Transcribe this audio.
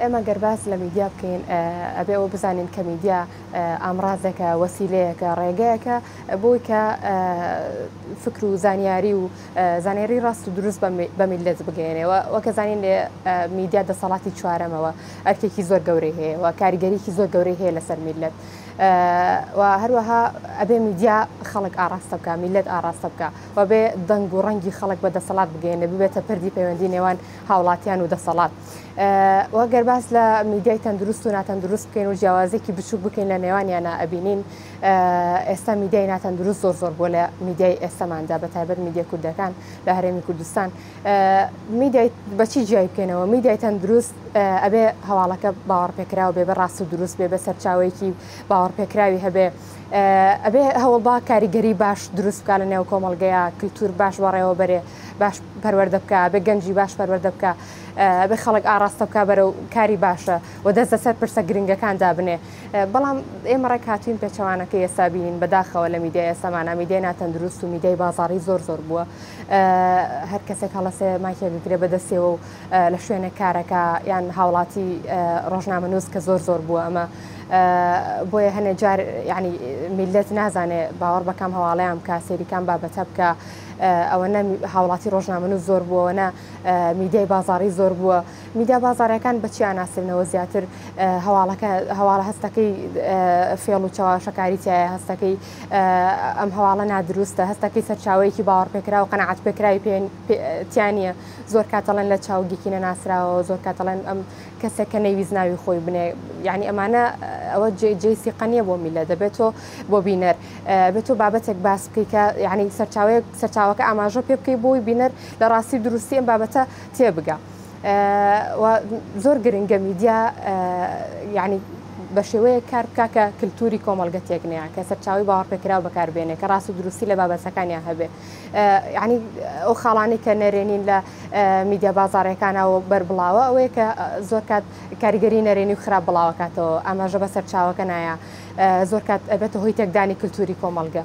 ئێمە گەر باس لە میدیا بکەین ئەبێ ئەوە بزانین کە میدیا ئامرازێکە وەسیلەیەکە ڕێگەیەکە بۆی کە فکر و زانیاری و زانێری ڕاست و دروست بە میلەت بگەێنەوە وەکە زانین لێ میدیا دەسەڵاتی چوارەمەوە ئەرکێکی زۆر گەورەی هەیە و کاریگەریکی زۆر گەورەی هەیە لەسەر میلەت و هەروەها ئەبێ میدیا خەڵک ئاراستە بکە میلەت ئاراستە بکە و بێ دەنگ و ڕەنگی خەڵک بە دەسەڵات بگەێنە ببێتە پردی پەیوەندی نێوان هاوڵاتیان و دەسەڵات و گەر باس لە میدیای تەندروست و ناتەندروست بکەین و جیاوازێکی بچوک بکەین لە نێوانیانە ئەبینین ئێستا میدیای ناتەندروست زۆر زۆر بۆ لە میدیای ئێستاماندا بە تایبەت میدیە کوردەکان لە هەرێمی کوردستان میدیای بەچی جیای بکەینەوە میدیای تەندروست ئەبێ هەواڵەکە باوەڕپێکراوە بێ بە ڕاست و دروست بێ بە سەرچاوەیەکی باوەڕپێکراوی هەبێ ئەبێ هەوڵبا کاریگەری باش دروست بکا لە نێو کۆمەڵگەیە کللتور باش بەڕێوە بەرێ باش پەروەەردە بکە بێ گەنجی باش پەروەەردە بکە بێ خەڵک ئاراستە بکە بەرە و کاری باشە و دەست لەسەر پرسە گرنگەکان دابنێ بەڵام ئێمە ڕێک هاتوین پێچەوانەکە ئێستا بینین بەداخەوە لە میدیا ئێسامانە میدیای ناتەندروست و میدیای بازاری زۆر زۆر بووە هەر کەسێک هەڵەسێ ماکێگەگرێ بەدەستێەوە و لە شوێنە کارەکە یان هاوڵاتی ڕۆژنامە نووس کە زۆر زۆر بووە ئەمە بۆیە هەنێ جار یعنی میلەت نازانێ باوەڕ بەکام هەواڵیان بکە سێریکان بابەتە بکە ئەوەنە هاوڵاتی ڕۆژنامەن و زۆر بووەوەە میدیای بازاری زۆر بووە میدیا بازارەکان بەچیان ناسرنەوە زیاتر هەواڵەکە هەواڵە هەستەکەی فێڵ و چاواشەکاری تایە هەستەکەی ئەم هەواڵە نادروستە هەستەکەی سەرچاوەیەکی باوەڕپێکرا و قەنەعات پێکراوی پێیان تیانە زۆر کاتەڵەن لە چاوگیکی نەناسراوە زۆر کاتەڵەن ئەم کەسێک کە نەیویست ناوی خۆی بنێ یعنی ئەمانە ئەوە جێی سیقە نییە بۆ میلە دەبێت تۆ بۆ بینەر بێت تۆ بابەتێک باس بکەی کە یعنی سەرچاوەیەک سەرچاوەکە ئاماژە پێ بکەی بۆی بینەر لە ڕاستی دروستی ئەم بابەتە تێبگە زۆر گرنگە میدیا یعنی بە شێوەیە کار بکە کە کللتوری کۆمەلگە تێکنەیە کە سەرچاوی باوەڕپێکراو بەکاربێنێ کە ڕاست و دروستی لە بابەتەکانیان هەبێ یانی ئەو خاڵانی کە نەرێنین لە میدیا بازارەکانەوە بەربڵاوە ئەوەیە کە زۆر کات کاریگەری نەرێنی و خراپ بڵاوەکاتەوە ئاماژە بە سەرچاوەکە نایە زۆر کات ئەبێتە هۆی تێکدانی کللتوری کۆمەلگە.